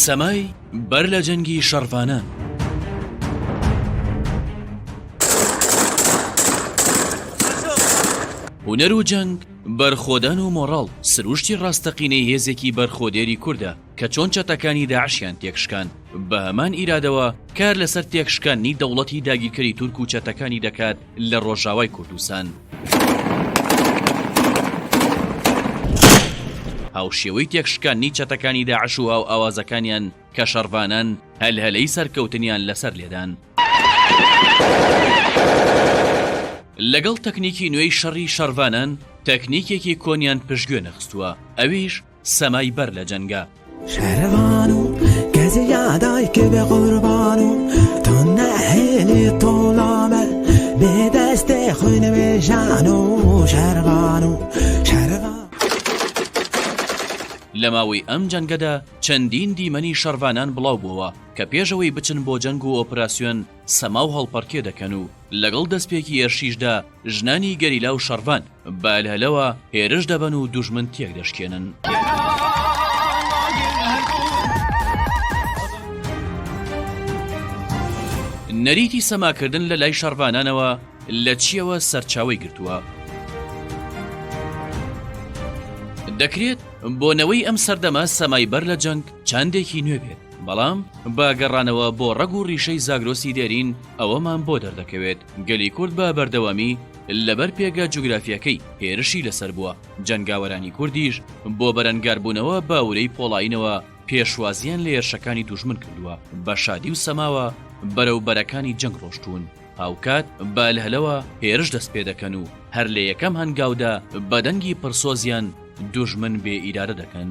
سەمای بەر لە جەنگی شەڕڤانان هونەر و جەنگ بەرخۆدان و مۆڕاڵ سروشتی ڕاستەقینەی هێزێکی بەرخۆدێری کووردە کە چۆن چەتەکانی داعشیان تێکشکان بە هەمان ئیرادەوە کار لەسەر تێکشکاننی دەوڵەتی داگیرکەری تورک و چەتەکانی دەکات لە ڕۆژاوای کوردستان. هاوشێوەی تێکشکاندنی چەتەکانی داعش و ئاو ئاوازەکانیان کە شەڕڤانان هەلهەلەی سەرکەوتنیان لەسەر لێدان. لەگەڵ تەکنیکی نوێی شەڕی شەڕڤانان تەکنیکێکی کۆنیان پشتگوێ نەخستووە ئەویش، سەمای بەر لە جەنگە. شەرەوان و کەزی یادای کە بێ قوربان و تۆ نەهێلی تۆڵامە بێ دەستێ خۆی نەوێژان و شەرەوان و لە ماوەی ئەم جەنگەدا چەندین دیمەنی شەڕڤانان بڵاو بووەوە کە پێشەوەی بچن بۆ جەنگ و ئۆپراسسیۆن سەما و هەڵپەڕکێ دەکەن و لەگەڵ دەستپێکی هێرشیشدا ژنانی گەریلا و شەڕڤان بە ئەلهەلەوە هێرش دەبەن و دوژمن تێک دەشکێنن. نەریتی سەماکردن لە لای شەڕڤانانەوە لە چیەوە سەرچاوی گرتووە. دەکرێت بۆ نەوەی ئەم سەردەمە سەمای بەر لە جەنگ چندێکی نوێ بێت بەڵام بە گەڕانەوە بۆ ڕەگ و ڕیشەی زاگرۆسی دێرین ئەوەمان بۆ دەردەکەوێت گەلی کورد بە بەردەوامی لەبەر پێگە جوگرافیەکەی هێرشی لەسەر بووە، جەنگاوەرانی کوردیش بۆ بەرەنگاربوونەوە بە ورەی پۆڵایینەوە پێشوازییان لە هێرشەکانی دوژمن کردووە، بە شادی و سەماوە بەرەو بەرەکانی جەنگ ڕۆشتوون. هاوکات بە الهلەوە هێرش دەست پێ دەکەن و هەر لە یەکەم هەنگاودا بە دەنگی پڕسۆزیان دوژمن بێ ئیرادە دەکەن.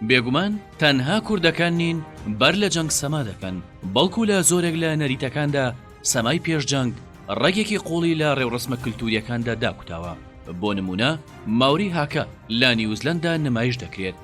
بێگومان تەنها کوردەکان نین بەر لە جەنگ سەما دەکەن بەڵکو لە زۆرێک لە نەریتەکاندا سەمای پێشجەنگ ڕێگێکی قوڵی لە ڕێوڕسمە کللتوریەکاندا داکوتاوە بۆ نمونە ماوری هاکە لە نیوزلەندا نمایش دەکرێت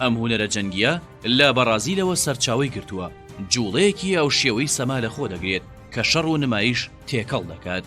ئەم هونەرە جەنگییە لە بەڕازیلەوە سەرچاوەی گرتووە، جووڵەیەکی هاوشێوەی سەما لەخۆ دەگرێت کە شەڕ و نمایش تێکەڵ دەکات.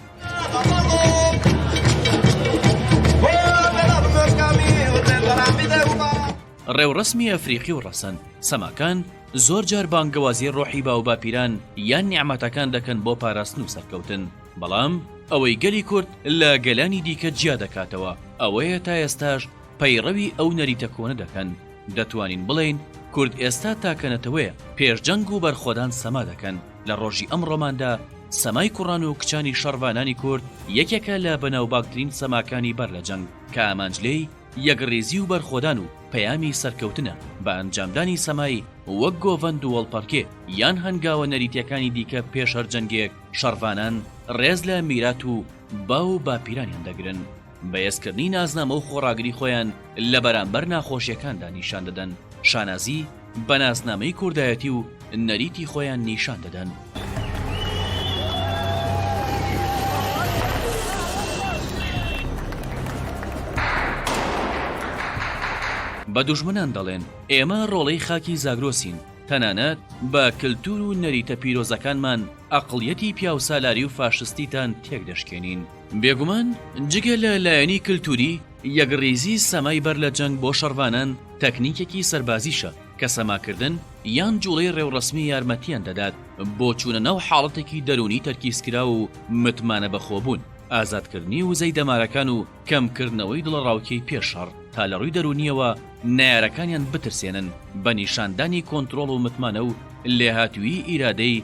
ڕێوڕەسمی ئەفریقی و ڕەسەن، سەماکان زۆرجار بانگەوازی ڕۆحی باوباپیران یان نیعمەتەکان دەکەن بۆ پاراستن و سەرکەوتن، بەڵام ئەوەی گەلی کورد لە گەلانی دیکە جیا دەکاتەوە ئەوەیە تا ئێستاش پەیڕەوی ئەو نەریتە کۆنە دەکەن، دەتوانین بڵێین کورد ئێستا تاکە نەتەوەیە پێش جەنگ و بەرخۆدان سەما دەکەن، لە ڕۆژی ئەمڕۆماندا سەمای کوڕان و کچانی شەڕڤانانی کورد یەکێکە لە بەناوباگترین سەماکانی بەر لە جەنگ کە ئامانج لێی یەکڕیزی و بەرخۆدان و پەیامی سەرکەوتنە بە ئەنجامدانی سەمای وەک گۆڤەند و وەڵپەڕکێ یان هەنگاوە نەریتیەکانی دیکە پێش هەر جەنگێک شەڕڤانان ڕێز لە میرات و باو و باپیرانیان دەگرن. بەهێزکردنی نازنامە و خۆڕاگری خۆیان لە بەرامبەر ناخۆشیەکاندا نیشان دەدەن، شانازی بە نازنامەی کوردایەتی و نەریتی خۆیان نیشان دەدەن. بە دوژمنان دەڵێن، ئێمە ڕۆڵەی خاکی زاگرۆسین، تەنانەت بە کلتور و نەریتە پیرۆزەکانمان ئەقڵیەتی پیاوسالاری و فاشستیتان تێک دەشکێنین. بێگومان جگە لە لایەنی کلتووری، یەکڕیزی سەمای بەر لە جەنگ بۆ شەڕڤانان تەکنیکێکی سەربازیشە کە سەماکردن یان جووڵەی ڕێوڕەسمی یارمەتییان دەدات بۆ چوونە ناو حاڵەتێکی دەروونی تەرکیزکراو و متمانەبەخۆبوون، ئازادکردنی وزەی دەمارەکان و کەمکردنەوەی دڵەڕاوکێی پێش شەڕ تا لە ڕووی دەروونییەوە نەیارەکانیان بترسێنن بە نیشاندانی کۆنترۆڵ و متمانە و لێهاتوویی ئیرادەی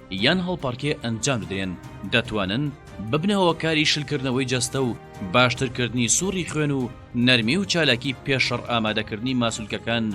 یان هەڵپەڕکێ ئەنجام بدرێن، دەتوانن ببنە هۆکاری شلکردنەوەی جەستە و باشترکردنی سوڕی خوێن و نەرمی و چالاکی پێش شەڕ ئامادەکردنی ماسولکەکان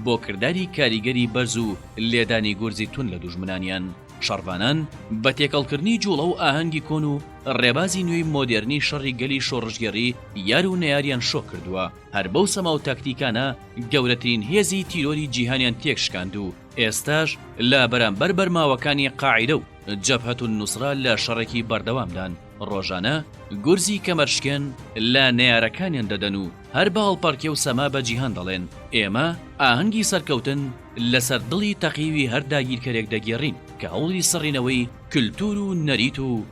بۆ کرداری کاریگەری بەرز و لێدانی گورزی توند لە دوژمنان یان شەڕڤانان بە تێکەڵکردنی جوڵە و ئاهەنگی کۆن و ڕێبازی نوێی مۆدێرنی شەڕی گەلی شۆڕشگێڕی یار و نەیاریان شۆک کردووە هەر بەو سەما و تاکتیکانە گەورەترین هێزی تیرۆری جیهانیان تێک شکاند و ئێستاش لە بەرامبەر بەرماوەکانی قاعیدە و جەبهەت النوسرە لە شەڕێکی بەردەوامدان، ڕۆژانە گورزی کەمەرشکێن لە نەیارەکانیان دەدەن و هەر بە هەڵپەڕکێ و سەما بە جیهان دەڵێن، ئێمە ئاهەنگی سەرکەوتن لەسەر دڵی تەقیوی هەر داگیرکەرێک دەگێڕین کە هەوڵی سڕینەوەی کلتور و نەریت و